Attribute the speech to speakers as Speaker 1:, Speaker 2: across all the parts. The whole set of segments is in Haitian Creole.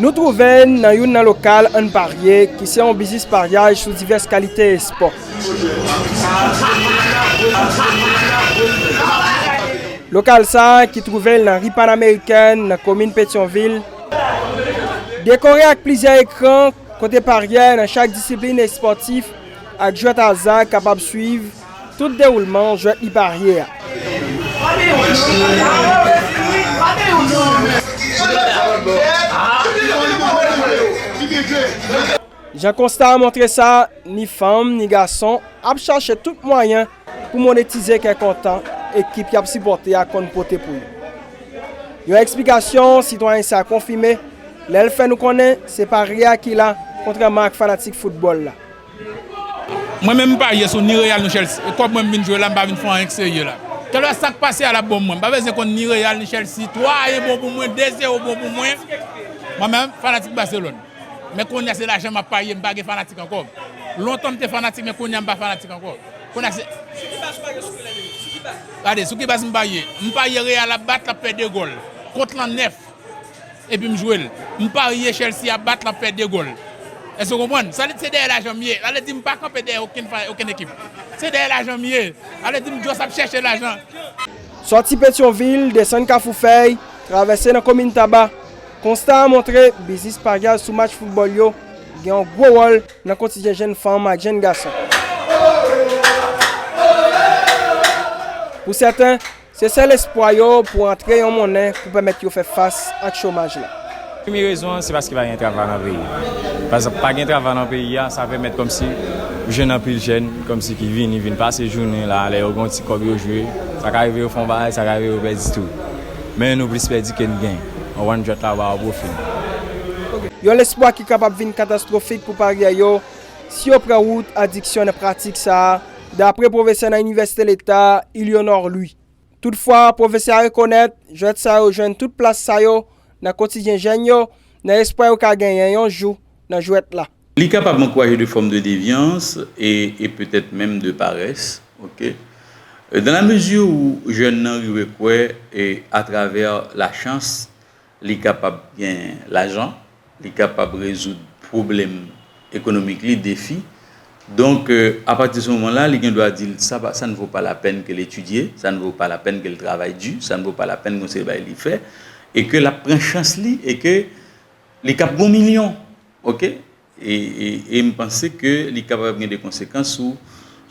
Speaker 1: Nou twouve n nan youn nan lokal Ann Parye ki se yon biznis paryaj sou divès kalite espò. Lokal sa ki twouve l nan ri Panameriken nan komin Petyonvil, dekore ak plizyè ekran kote paryè nan chak disiplin espòtif ak jwèt aza kapab swiv. Tout dewoulman jwèt li parye a. Jan konsta a montre sa, ni fanm, ni gason ap chache tout mwayen pou monetize kè kontan ekip y ap sipòte a konn pote pou yo. Yon eksplikasyon sitwayen sa konfime lè l fè nou konnen se parye a ki la kontrèman ak fanatik foutbòl la.
Speaker 2: Mwen menm m parye sou ni Real ni Chelsea kòb mwen m vin jwe la m pa vin fè anyen k serye la kelè sak pase a lap bon mwen m pa bezyen konn ni Real ni Chelsea 3 a 1 bon pou mwen 2 zero bon pou mwen mwen menm fanatik Barcelone men konnya se lajan map parye m pa gen fanatik ankò lontan m te fanatik men konnya m pa fanatik ankò konnya se Sou ki baz ou parye sou Real et Chelsea sou ki baz? Gade sou ki baz m parye m parye Real ap bat lap fè 2 gòl kont lan 9. epi m jwe l m parye Chelsea ap bat l ap fè 2 gòl èske w konprann sa se dèyè lajan m ye sa vle di m pa kanpe dèyè okenn fwa okenn ekip se dèyè lajan m ye sa vle di m just ap chèche lajan. Sòti
Speaker 1: Petyonvil, desann Kafou Fèy, travèse nan komin Taba, konsta a montre biznis paryaj sou match foutbòl yo gen yon gwo wòl nan kotijen jenn fanm ak jenn gason. Pou sèten, Se sèl espwa yo pou antre yon monnen pou pèmèt yo fè fas ak chomaj la. Premye rezon an se
Speaker 3: paske pa gen travay nan peyi a. Pa egzanp, pa gen travay nan peyi a, sa pèmèt kòmsi ou jwenn anpil jèn kòmsi ki vini vin pase jounen la, lè yo gen yon ti kòb yo jwe, sa ka rive yo fè yon bagay, sa ka rive yo pèdi tou. Men nou plis pèdi ke n gen. Ou konprann? Jwèt la ba ou pwofil.
Speaker 1: Yon lespwa ki kapab vin katastwofik pou paryè yo si yo pran wout adiksyon nan pratik sa a. Dapre pwofesè nan Inivèsite Leta a, Ilionor Louis. Toutfwa, pwofesè a rekonèt, jwèt sa yo jwenn tout plas sa yo nan kotidyen jèn yo, nan espwa yo ka genyen yon jou nan jwèt la. Li kapab ankouraje
Speaker 4: de fòm de devyans e e petèt menm de parès, ok. Dan la mezi ou jèn nan rive kwè e atravè lachans, Li kapab gen lajan, li kapab rezoud pwoblèm ekonomik li, defi. Donk, apati se moman la, li gen dwa di l, sa pa, sa n vo pa lapèn ke l etidye, sa n vo pa lapèn ke l travay di, sa n vo pa lapèn gon seri bagay li fè, e ke l ap pran chans li, e ke li kab gon milyon. Ok. E m panse ke li kapab gen de konsekans sou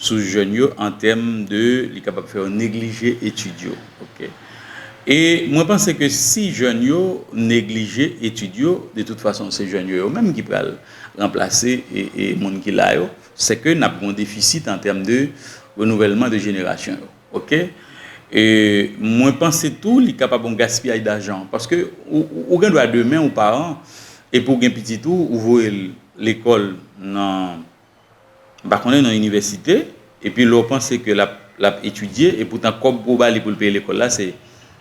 Speaker 4: sou jèn yo an tèm de li kapab fè yo neglije etid yo. Ok. E mwen panse ke si jèn yo neglije etid yo, de tout fason se jèn yo yo menm ki pral ranplase moun ki la yo, se ke n ap gen yon defisit an tèm de renouvèlman de jenerasyon yo. Ok e mwen panse tou li kapab yon gaspiyaj dajan paske ou gen dwa demen ou paran epi ou gen pitit ou ou voye l lekòl nan m pa konnen nan inivèsite epi lè w panse ke l ap etidye epoutan kòb pou w ba li pou l peye lekòl la se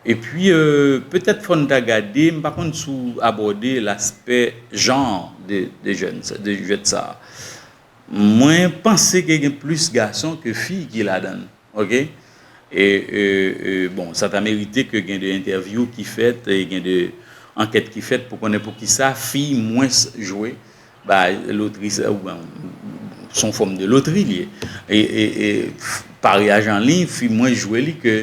Speaker 4: Epi petèt fò n ta gade, m pa konn si w abòde laspè genre de jeunes, de jwèt sa. Mwen panse ke gen plis gason ke fi ki ladan l ok. E bon sa ta merite ke gen de entèvyou ki fèt e gen de ankèt ki fèt pou konnen poukisa fi mwens jwe ba lotri sa ou byen s on fòm de lotri li ye. E paryaj an liy fi mwens jwe li ke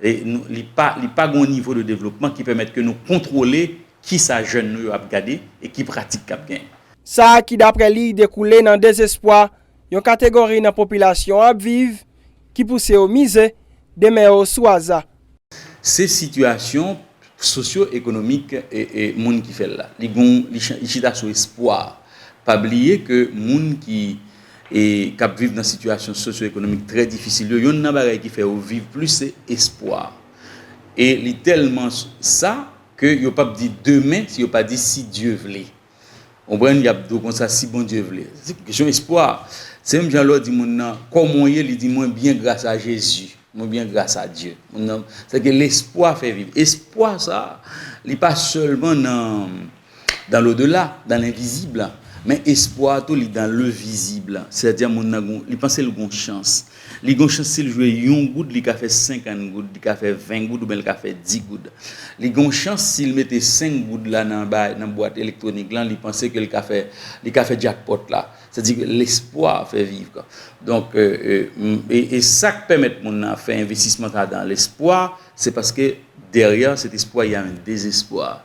Speaker 4: li pa li pa gen yon nivo de devlopman ki pèmèt ke nou kontwole kisa jèn nou yo ap gade e ki pratik k ap genyen. Sa ki daprè
Speaker 1: li dekoule nan dezespwa yon kategori nan popilasyon an ap viv ki pouse yo mize demen yo sou aza. Se
Speaker 4: sitiyasyon Sosyo ekonomik moun ki fèl la. Li gon li chita sou espwa. Pa bliye ke moun ki kap viv nan sitiyasyon sosyo ekonomik trè difisil yo yonn nan bagay ki fè yo viv plis se espwa. E li tèlman sa ke yo pap di demen si yo pa di si Dye vle. Konprann? Yap di w konsa si Bondye vle. Se yon kesyon espwa. Se menm jan lè w di moun nan, kòman w ye? Li di mwen byen gras a Jezi. Mwen byen gras a Dye. Moun nan, se ke lespwa fè viv. Espwa sa, li pa sèlman nan dans l'au-delà, dans l'invisible. Men espwa tou li dans le visible. Sètadi moun nan gon, li panse l gon chans. Li gon chans sil jwe yon goud li ka fè 50 goud li ka fè 20 goud oubyen li ka fè 10 goud li gon chans sil mete 5 goud la nan bay nan bwat elektronik lan li panse ke li ka fè li ka fè jackpot la sa di ke lespwa fè vivre donk e sak pèmèt moun nan ap fè envestisman sa dan lespwa se paske dèryè cet espwa ya yon dezespwa.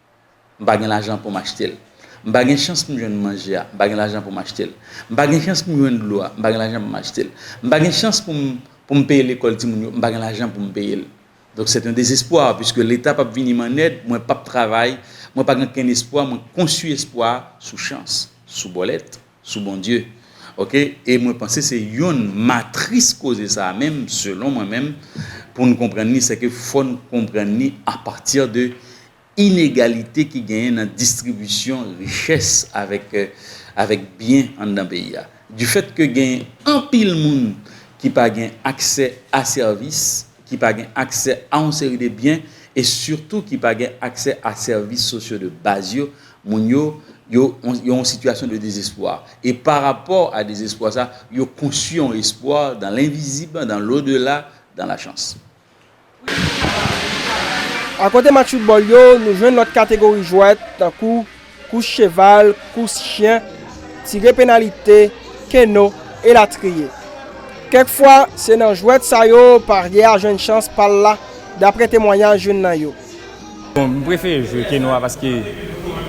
Speaker 4: M pa gen lajan pou m achte l. M pa gen chans pou m jwenn manje a. M pa gen lajan pou m achte l. M pa gen chans pou m jwenn dlo a. M pa gen lajan pou m achte l. M pa gen chans pou m pou m peye lekòl timoun yo. M pa gen lajan pou m peye l. Donk sèt yon dezespwa, piske Leta p ap vini m an èd, mwen p ap travay, mwen pa gen okenn espwa, mwen konstwi espwa sou chans, sou bòlèt. Sou Bondye ok e mwen panse se yonn matris koze sa a menm selon mwen menm pou n konprann li sèke fò n konprann li a pati de inegalite ki genyen nan distribisyon richès avèk avèk byen anndan peyi a difèt ke gen anpil moun ki pa gen aksè a sèvis ki pa gen aksè a yon seri de byen e sitou ki pa gen aksè a sèvis sosyo de baz yo, moun yo, yo yon sitiyasyon de dezespwa. E pa rapò a dezespwa sa, yo konstwi yon espwa dan lenvizib, dan lodela, dan lachans.
Speaker 1: Akote match foutbòl yo, nou jwenn lòt kategori jwèt, tankou. kous cheval, kous chyen, tire penalite, keno, elatriye. Kèk fwa, se nan jwèt sa yo parye a jwenn chans pa l la, dapre temwanyaj youn nan yo. Bon, m
Speaker 3: prefere jwe keno a paske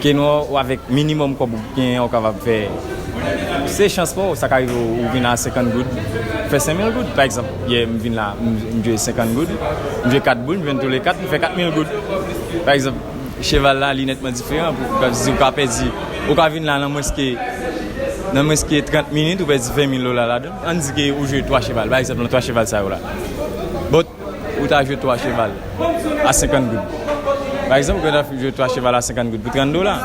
Speaker 3: keno a ou avèk minimòm kòb ou genyen ou kapab fè, se chans pa w, sa ka rive w ou vin la a 50 goud, fè 5 mil goud. Pa egzanp, yè m vin la a, m jwe 50 goud, m jwe 4 boul, m jwenn tou le 4, m fè 4 mil goud, pa egzanp. Cheval la li nètman diferan pou ou kapab di ou ka pèdi, ou ka vin la nan mwens ke, nan mwens ke 30 minit ou pèdi 20 mil dola ladan l. Ann di ke ou jwe 3 cheval, pa egzanp nan 3 cheval sa yo la, but ou ta jwe 3 cheval a 50 goud. Pa egzanp ou gentan jwe 3 cheval a 50 goud pou 30 dola,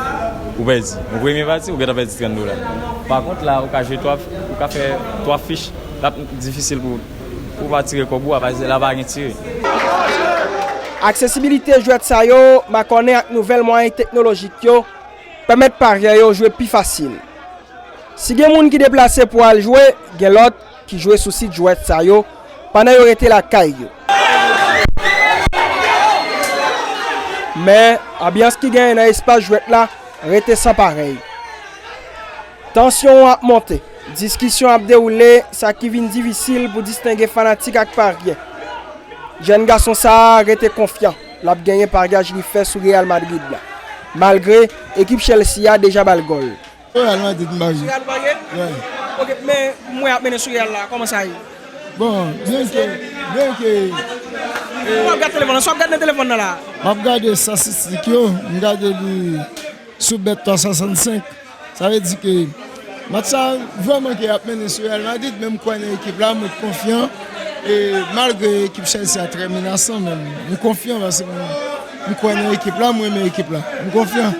Speaker 3: ou pèdi. Nan premye pati ou gentan pèdi 30 dola. Pa kont la ou ka jwe 3, ou ka fè 3 fich, l ap difisil pou ou. Ou pa tire kòb ou a pase la pa gen tire. Aksesibilite
Speaker 1: jwèt sa yo makònen ak nouvèl mwayen teknolojik yo pèmèt paryè yo jwe pi fasil. Si gen moun ki deplase pou al jwe, gen lòt ki jwe sou sit jwèt sa yo pandan yo rete lakay yo. Men, anbyans ki genyen nan espas jwèt la rete san parèy. Tansyon an ap monte, diskisyon ap dewoule, sa ki vin difisil pou distenge fanatik ak parye. Jèn gason sa a rete konfyan l ap genyen paryaj li fè sou Real Madrid la, malgre ekip Chelsea a deja ba l gòl. Real Madrid m
Speaker 5: parye. Sou Real ou parye? Wi.
Speaker 1: Ok,
Speaker 5: men
Speaker 1: mwen ap mennen sou Real la, kòman sa ye? Bon, byen
Speaker 5: ke, byen ke, e.
Speaker 1: Ou ap gad telefòn lan? Sa w ap gad nan telefòn nan la a? M ap gade
Speaker 5: statistik yo, m gade li sou Bet 365. Sa vle di ke match sa vrèman ke ap mennen sou Real Madrid men m kwè nan ekip la mwen konfyan e malgre ekip Chelsea a trè menasan men m konfyan paske m kwè nan ekip la m renmen ekip la m konfyan.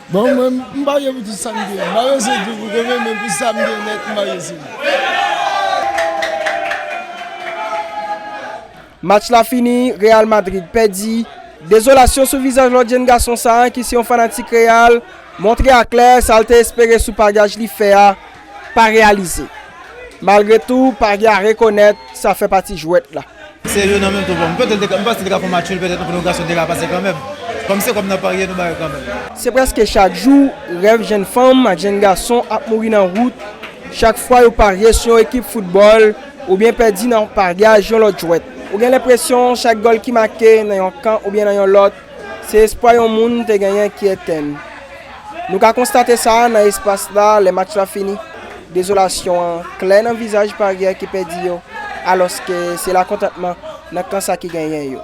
Speaker 5: Bon mwen m parye pou tout sam gen m pa bezwen di w pou konbyen men pou sam gen nèt m parye sou li.
Speaker 1: Match la fini, Real Madrid pèdi. Dezolasyon sou vizaj lòt jenn gason sa a ki se yon fanatik Real montre a klè sa l te espere sou paryaj li fè a pa reyalize. Malgre tou, Paris a rekonèt sa fè pati jwèt la. Se youn an menm tou
Speaker 6: pou m. Petèt m panse li te ka fè yon match nul petèt anpil gwo gason te ka pase kanmenm. Kòm se kòb n ap parye nou ba yo kanmenm. Se prèske chak
Speaker 1: jou rèv jenn fanm ak jenn gason ap mouri nan wout chak fwa yo parye sou yon ekip foutbòl. Oubyen pèdi nan paryaj yon lòt jwèt. Ou gen lenpresyon chak gòl ki make nan yon kan oubyen nan yon lòt, se espwa yon moun te genyen ki etenn. Nou ka konstate sa nan espas la lè match la fini. Dezolasyon an klè nan vizaj paryè ki pèdi yo, alòske se lakontantman nan kan sa ki genyen yo.